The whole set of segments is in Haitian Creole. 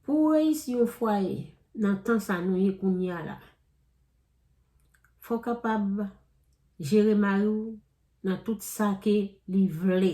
Pou ou reyisi yon fwaye nan tan sa nou ye kounye a la, fò w kapab jere mari w nan tout sa ke li vle.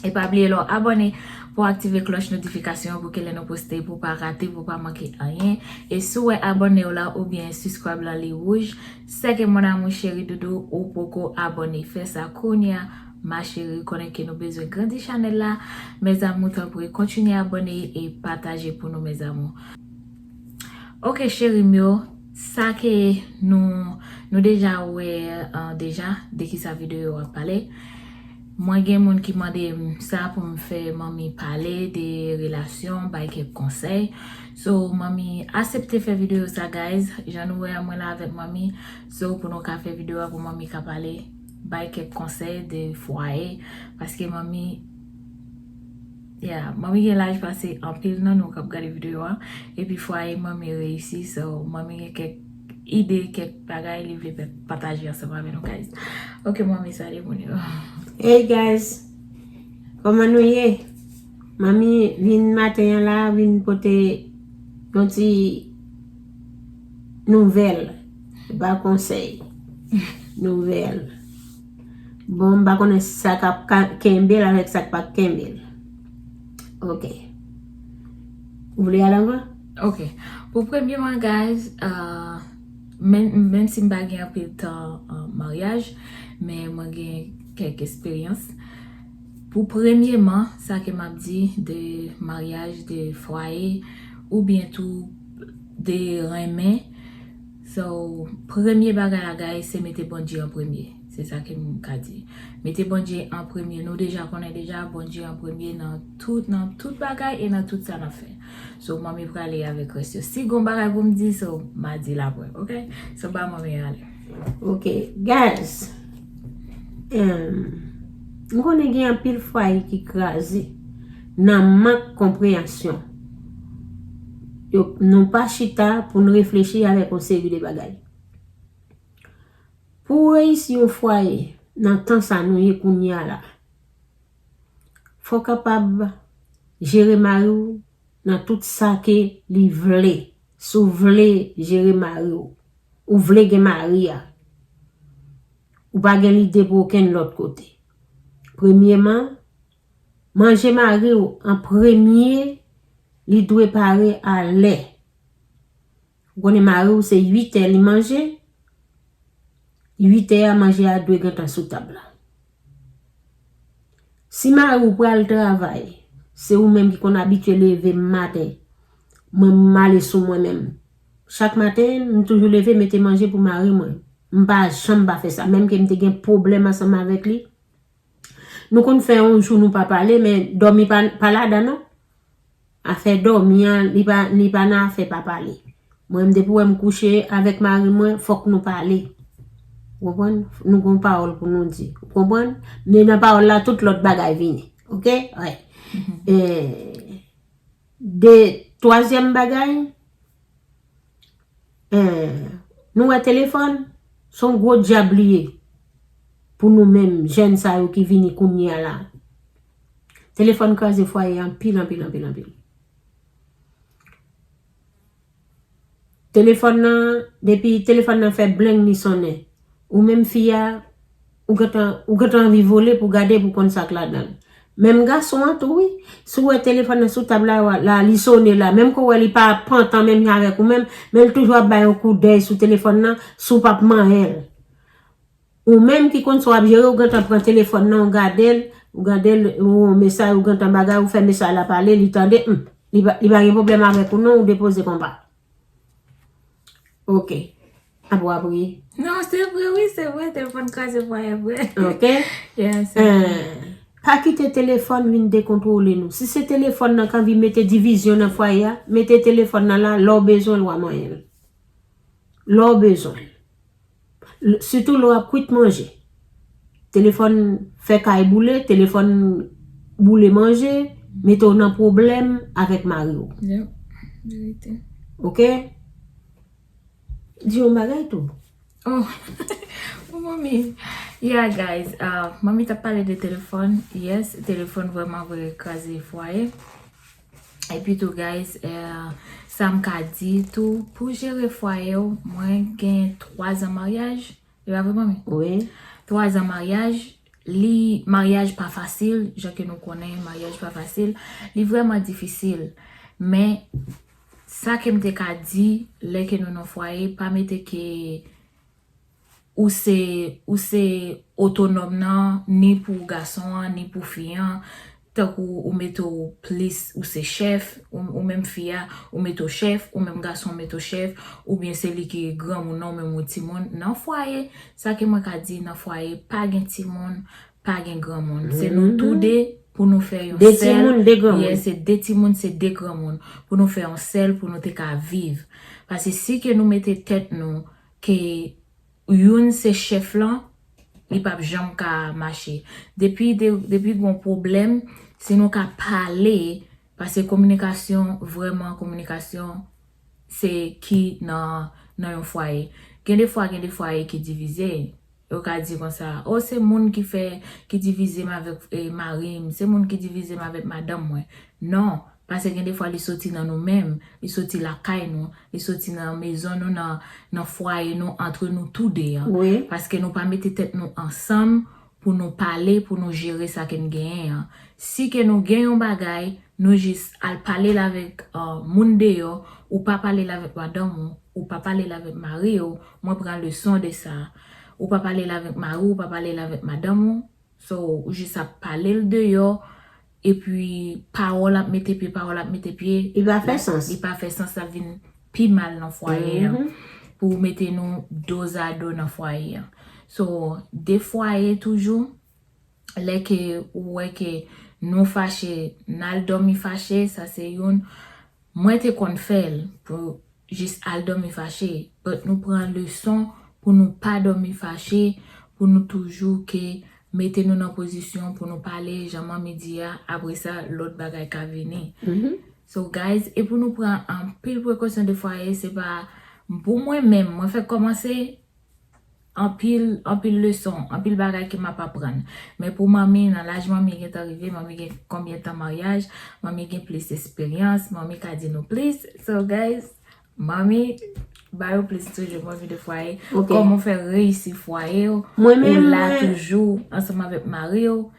E pa bliye lè w abòne pou w aktive klòch notifikasyon an pou ke lè nou poste pou w pa rate, pou w pa manke anyen. E si w wè abòne w la oubyen subscribe lan li wouj, sè ke mon amour cheri doudou ou poko abòne. Fè sa kounya ma chérie konnen ke nou bezwen grandi chanèl la mes amours tanpri kontinye abòne e pataje pou nou mes amours. Ok cheri m yo, sa ke nou nou deja wè deja de kisa videyo yo ap pale. Mwen gen moun ki mandem sa poum fè manmi pale de relasyon bay kèk konsèy so manmi asepte fè video sa guys jan nou wè a mwen la avèk manmi so pou nou ka fè video a pou manmi ka pale bay kèk konsèy de fwaye paske manmi yeah manmi gen laj pase anpil nan nou kap gade video a epi fwaye manmi reyisi so manmi gen kèk ide kèk bagay li vle fè pataje ansanm avè nou guys ok manmi salye moun yo hey guys koman nou ye manmi vin maten an la vin pote yon ti nouvel ba konsey nouvel bon m pa konnen sa kap kenbe l avèk sa k pap kenbe l ok ou vle al anvan Ok pou premye mwen guys menm si m pa gen anpil tan maryaj men mwen gen kèk esperyans pou premye man sa ke m ap di de maryaj de fwaye oubyen tou de renmen so premye bagay la guys se mete Bondye an premye se sa ke m ka di mete Bondye an premye nou deja konnen deja Bondye an premye nan tout bagay e nan tout sa n ap fè. So manmi prale avek res yo. Si gon bagay pou m di so ma di l apre ok. So ba manmi yo ale. Ok guys. M konnen gen anpil fwaye ki kraze nan mank konpreyansyon. Nou pa chita pou nou reflechi avek yon seri de bagay. Pou reyisi yon fwaye nan tan sa nou ye kounye a la. Fòw kapab jere mariw nan tout sa ke li vle si w vle jere mariw ou vle gen mari a ou pa gen lide pou okenn lòt kote premyeman manje mariw an premye li dwe pare a lè ou konnen mariw se 8 è li manje 8 è a manje a dwe gentan sou tab la. Si mari w pral travay, se ou menm ki konn abitye leve m maten. Mwen m ale sou mwen menm. Chak maten, m toujou leve mete manje pou mari mwen. M pa janm pa fè sa. Menm ke m te gen pwoblèm ansanm avèk li. Nou konn fè yon jou nou pa pale, men dòmi pa ladan non. Afè dòmi an li pa li pa nan afè pa pale. Mwen menm depi ou wè m kouche avèk mari mwen fòk nou pale. Ou konprann? Nou gon pawòl pou nou di. Ou konprann? Men nan pawòl la tout lòt bagay vini. Ok? Wi. E de twazyèm bagay e nou wè telefòn se yon gwo dyab li ye pou nou menm jèn sa yo ki vini kounye a la. Telefòn kraze fwaye anpil anpil anpil anpil. Telefòn nan, depi telefòn nan fè bleng li sonnen. Ou menm fi a, ou gentan, ou gentan anvi vole pou gade pou konn sa k ladan l. Menm gason an tou wi. Si w wè telefòn nan sou tab la, la li sone la, menm ke w wè li pa pantan menm jan avèk ou menm, men l toujou ap bay yon koudèy sou telefòn nan, si w pa p manyen l. Ou menm ki konn sa wap jere ou gentan pran telefòn nan ou gadel, ou gadel ou yon mesay ou gentan bagay ou fè mesay la pale li tande humm li pa gen problèm avèk ou non ou depoze konpa ok apre wap rii. Non se vre wi se vre telefòn kraze fwaye vre ok pa kite telefòn vin dekontwole nou si se telefòn nan k anvi mete divizyon nan fwaye a mete telefòn nan la lè ou bezwen l wa manyen l. lè w bezwen l, sitou lè w ap kwit manje, telefòn fè kay boule, telefòn boule manje, mete w nan pwoblèm avèk mari w. Ok? Di yon bagay tou. Oh, pou Manmi. Yeah guys, Manmi t ap pale de telefòn. Yes, telefòn vrèman vre kraze fwaye. Epi tou guys sam ka di tou pou jere fwaye w mwen gen 3 zan maryaj e pa vre manmi? Wi. 3 zan maryaj li maryaj pa fasil jan ke nou konnen maryaj pa fasil li vreman difisil men sa kem te ka di lè ke nou nan fwaye pa mete ke ou se ou se otonòm nan ni pou gason an ni pou fi an tankou ou mete w plis ou se chèf ou menm fi a ou mete w chèf ou menm gason mete w chèf oubyen se li ki granmoun nan ou menm ou timoun nan fwaye sa ke mwen ka di nan fwaye pa gen timoun pa gen granmoun se nou tou de pou nou fè yon sèl yes se de timoun se de granmoun pou nou fè yon sèl pou nou te ka viv pase si ke nou mete tèt nou Ke youn se chef lan li pap janm ka mache. Depi depi gon pwoblem si nou ka pale pase kominikasyon vreman kominikasyon se ki nan nan yon fwaye. Gen de fwa gen de fwaye ki divize Yo ka di konsa, Oh se moun ki fè, ki divize m avèk mari m, se moun ki divize m avèk madanm mwen. Non, pase gen defwa li soti nan nou menm, li soti lakay nou, li soti nan mezon nou, nan fwaye nou, antre nou tou de an. Paske nou pa mete tèt nou ansanm pou nou pale, pou nou jere sa ke n genyen an. Si ke nou gen yon bagay, nou jis al pale l avèk moun deyò, ou pa pale l avèk madanm ou. Ou pa pale l avèk mari w, mwen pran leson de sa. Ou pa pale l avèk mari w, ou pa pale l avèk madanm ou. So, ou jis ap pale l deyò, epi pawòl ap mete pye, pawòl ap mete pye. Li pa fè sans. Li pa fè sans, sa ap vin pi mal nan fwaye an. Pou ou mete nou dozado nan fwaye an. So, de fwaye toujou, lè ke ou wè ke nou fache, n al dòmi fache, sa se youn. Mwen te konn fèl pou jis al domi fache but nou pran leson pou nou pa domi fache pou nou toujou ke mete nou nan pozisyon pou nou pale jan manmi di a apre sa lot bagay ka vini so guys e pou nou pran anpil prekosyon de fwaye se pa pou mwen menm mwen fèk komanse Anpil, anpil leson, anpil bagay ke map aprann. Men pou manmi, nan laj manmi gentan rive, manmi gen konbyen tan maryaj, manmi gen plis esperyans, manmi ka di nou plis. So guys, manmi, ba yo plis toujou manmi de fwaye. Koman ou fè reyisi fwaye ou, ou la toujou ansanm avèk mari ou.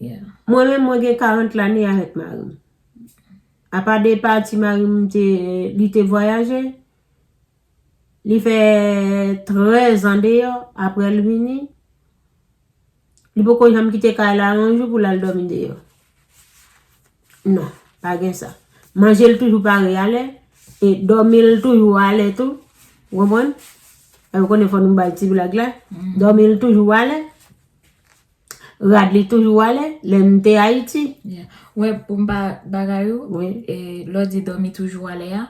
Mwen menm mwen gen 40 lane avèk marim. Apa de pati marim te, li te vwayaje. Li fè 13 an deyò, aprè l vini, li poko janm kite kay la yon jou pou l al dòmi deyò. Non, pa gen sa. Manje l toujou pare alè, e dòmi l toujou alè tou, ou konprann? E ou konnen fò nou bay ti blag la, mm-hmm. dòmi l toujou alè, rad li toujou alè, lè m te Ayiti. Wè, pou m pa bagay ou, e lò di dòmi toujou alè a,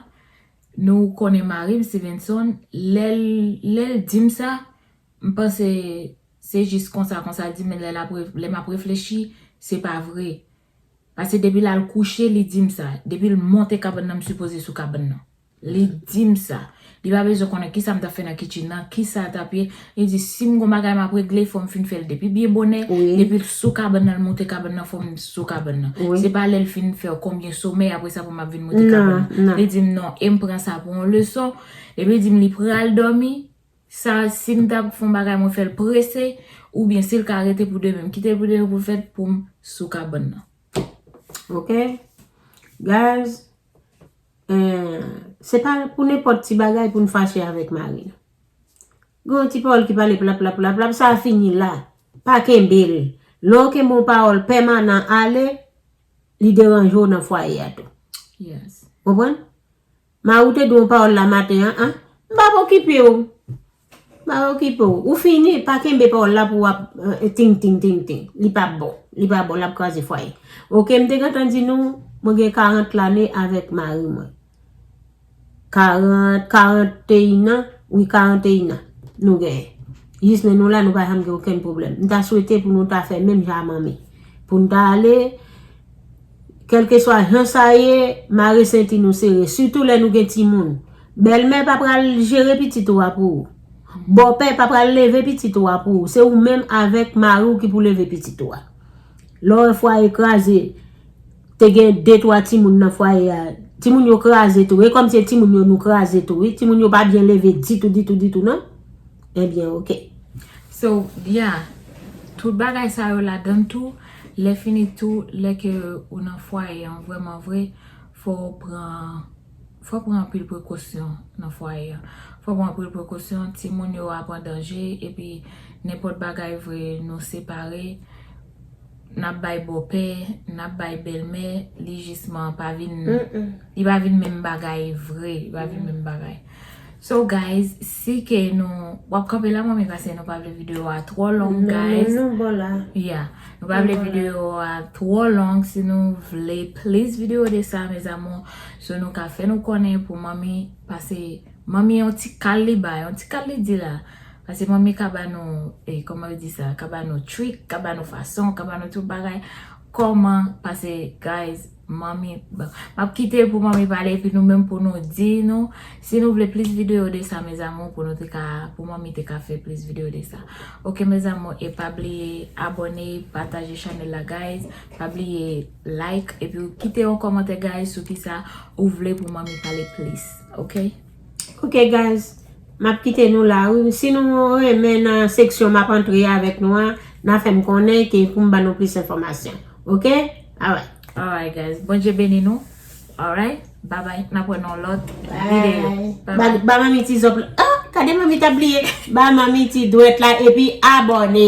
Nou konnen marim Stevenson lèl lèl dim sa m panse se jis konsa konsa l dim men lè lap lè map reflechi se pa vre pase depi lal kouche li dim sa depil monte kabann nan m sipoze sou kabann nan li dim sa li pa bezwen konnen kisam tap fè nan kitchen nan kisa tap ye Li di, si m gon bagay m ap regle, fò m fin fè l depi byen bonè, depi l sou kabann nan, l monte kabann nan, fò m sou kabann nan. Se pa lè l fin fè konbyen somèy apre sa pou m ap vin monte kabann nan. Li di m, non, e m pran sa pou yon leson. Epi li di m li pral dòmi, sa si m ta fè yon bagay mwen fè l prese, oubyen si l ka rete pou demen, m kite l pou demen pou l fèt pou m sou kabann nan. Ok, guys, se pa pou nenpòt ti bagay pou n fache avèk mari nou. Gen yon ti pawòl ki pale plaplaplaplap, sa fini la. Pa kenbe l. Lè w kenbe yon pawòl pèmanan ale, li deranje w nan fwaye a tou. Ou konprann? Mari w te di w yon pawòl la maten an, an? M pa p okipe w. M pa p okipe w. Ou fini. Pa kenbe pawòl la pou w ap tingtingtingting. Li pa bon. Li pa bon. L ap kraze fwaye. Ok, m te gentan di nou, mwen gen 40 lane avèk mari mwen. 40, 41 an, wi 41 an nou genyen. Jis lè nou la nou pa janm gen okenn pwoblèm. M ta swete pou nou ta fè menm jan a manmi. Pou n ta ale, kèlkeswa jan sa ye, mare senti nou sere. Sitou lè nou gen timoun. Bèlmè pa pral jere pitit ou a pou ou. Bòpè pa pral leve pitit ou a pou ou. Se ou menm avèk mari ou ki pou leve pitit ou a. Lè w wè fwaye kraze. Te gen de twa timoun nan fwaye a. Timoun yo kraze tou. E kòm se timoun yo nou kraze tou wi. Timoun yo pa byen leve ditou ditou ditou non. Ebyen ok. So ya. Tout bagay sa yo ladann tou. Lèfini tou lè ke ou nan fwaye an vrèman vre fò ou pran fò ou pran anpil prekosyon nan fwaye an. Fò ou pran anpil prekosyon. Timoun yo ap an danje epi nenpòt bagay vre nou separe. Nap bay bòpè, nap bay bèlmè, li jisman pa vin, li pa vin menm bagay vre, li pa vin menm bagay. So guys, si ke nou, wap kanpe la manmi pase nou pa vle video a twò long guys. Nan men nou bò la. Yeah, nou pa vle video a twò long, si nou vle plis video de sa mes amours, so nou ka fè nou konnen pou manmi pase. Manmie yon ti kal li bay, yon ti kal li di la. Pase manmie ka ba nou, e koman yo di sa, ka ba nou trick, ka ba nou fason, ka ba nou tout bagay. Koman, pase guys, manmie, bon, map kite pou manmie pale epi nou menm pou nou di nou, si nou vle plis video de sa mes amour pou nou te ka, pou manmie te ka fè plis video de sa. Ok mes amour, e pa bliye abone, pataje chanel la guys, pa bliye like epi kite yon komantè guys sou ki sa ou vle pou manmie pale plis. Ok. Ok guys. Map kite nou la wi. Si nou renmen nan seksyon map antre avèk nou an. Na fèm konnen ke poum ban nou plis enfòmasyon. Ok. Alright. Alright guys. Bondye beni nou. Alright. Babay. Nap wè nan lòt video. Bye. Ba manmi ti zòp la. Oh! Kade manmi tap bliye. Ba manmi ti dwèt la epi abòne.